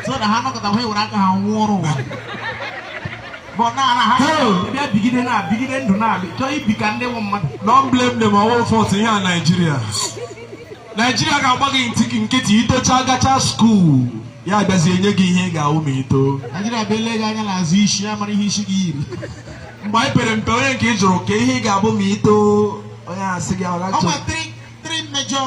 so na ha nọkọta ha ewere aka ha nwụọ ọrụ ụwa bụ na na ha bịa bigide na bigide ndụ na-abịa chọọ ibi ka ndị nwe mmadụ Don't blame them ọ wụ fault ihe a Naijiria Naijiria ga-agba gị ntị gị nkịtị i tocha gachaa skuul ya abịazie nye gị ihe ị ga-awụ ma i too Naijiria bịa lee gị anya n'azụ isi ya mara ihe isi gị yiri mgbe anyị pere mpe onye nke ị jụrụ ka ihe ị ga-abụ ma i too onye asị gị ọ ọgachọ nwe three three major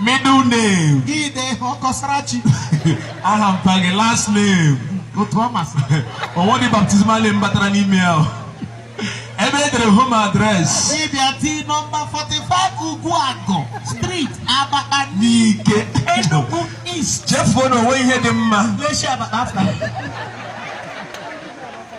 middle name gị de Kọsarachi aha mpa gị last name otu ọ masị o nwedị baptismal name batara n'ime ya o. ebe e dere home address ị bịa tii nọmba 45 Ugwuagụ street Abakpa Nike Enugu East chefuo na o nwe ihe dị mma l'eshi Abakpa afụta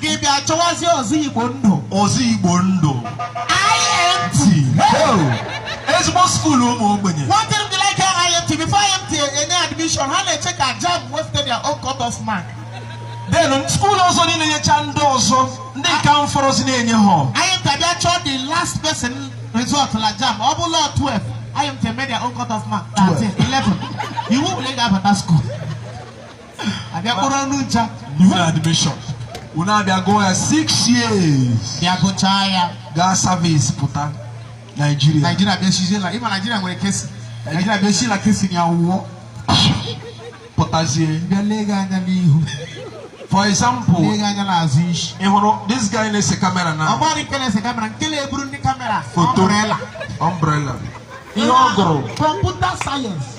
gị bịa chọwazie ụzọ igbo ndụ ụzọ igbo ndụ IMT ezigbo skuulu ụmụ ogbenye one thing be like IMT before IMT enye admission ha na-eche ka JAMB wefute their own cut off mark then skuulu ọzọ niile nyecha ndị ọzọ ndị nke ahụ fọrọzi na-enye ha IMT abịa chọọ the last person result na JAMB ọ bụ la 12 IMT emee their own cut off mark 13 11 iwu wụ l'ị ga-abata skuulu a bịa kpọrọ unu ncha new admission unu abịa gụọ ya six years bịa gụchaa ya gaa service pụta Nigeria Nigeria bịa shizie la ị ma Nigeria nwere kesi Nigeria bịa shi la kesi ya wụọ pụtazie bịa lee gị anya n'ihu for example lee gị anya n'azụ isi ị hụrụ this guy na-ese kamera na ọgbara nke na-ese kamera nke na-eburu ndị kamera foto umbrella ihe ọ gụrụ kọmputa sayensị